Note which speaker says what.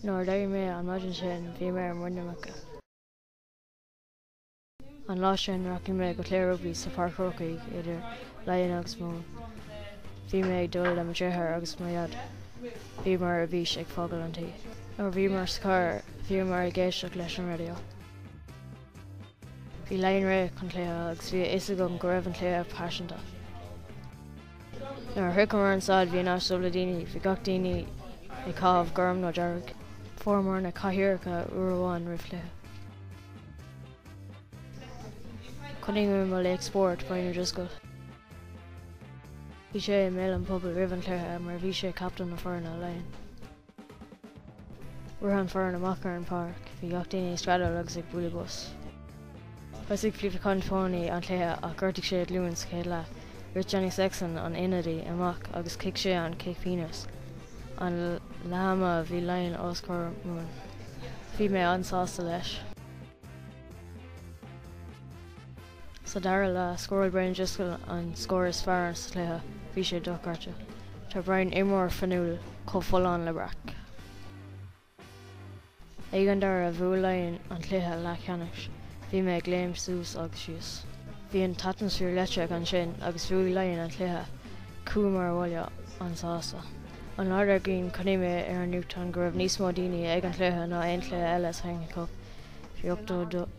Speaker 1: Nuair a d'éirigh mé an maidin sin bhí mé ar muin na muice. An lá sin rachaidh mé go cluiche rugbaí sa Pháirc Chrócaigh idir Laighin agus Mumhan. Bhí mé ag dul le mo dheartháir agus mo dhaid. Bhíomar ar bís ag fágáil an tí. Nuair a bhíomar sa charr bhíomar ag éisteacht leis an raidió. Bhí Laighin réidh chun cluiche agus bhí a fhios agam go raibh an cluiche paiseanta. Nuair a shroicheamar an staid, bhí an áit dubh le daoine. Bhí gach daoine ag caitheamh gorm nó dearg. Fuaireamar na cathaoireacha uair amháin roimh chluiche. Chonaic mé mo laoch spóirt, Brian O'Driscoll. Bhí sé i mbéal an phobail roimh an chluiche mar bhí sé captaen na foirne, Laighin. Rith an foireann amach ar an pháirc, bhí gach daoine ag screadaíl agus ag bualadh bos. Thosaigh Felipe Contepomi an cluiche ach ghortaigh sé a ghlúin sa chéad leath. Rith Johnny Sexton, an ionadaí, amach agus chic sé an cic pionóis. An leath ama bhí Laighin os comhair Mumhan. Bhí mé an-sásta leis. Sa dara leath, scóráil Brian Driscoll an scór is fearr sa chluiche, bhí sé dochreidte. Tá Brian, imreoir fuinniúil, chomh folláin le breac. Ag an deireadh, bhuaigh Laighin an cluiche leathcheannais. Bhí mé ag léim suas agus síos. Bhí an t-atmaisféar leictreach ansin agus bhuaigh Laighin an cluiche. Chuamar abhaile an-sásta. An lá dár gcionn, chonaic mé ar an nuachtán go raibh níos mó daoine ag an chluiche ná aon chluiche eile sa Heineken Cup. Bhí 82.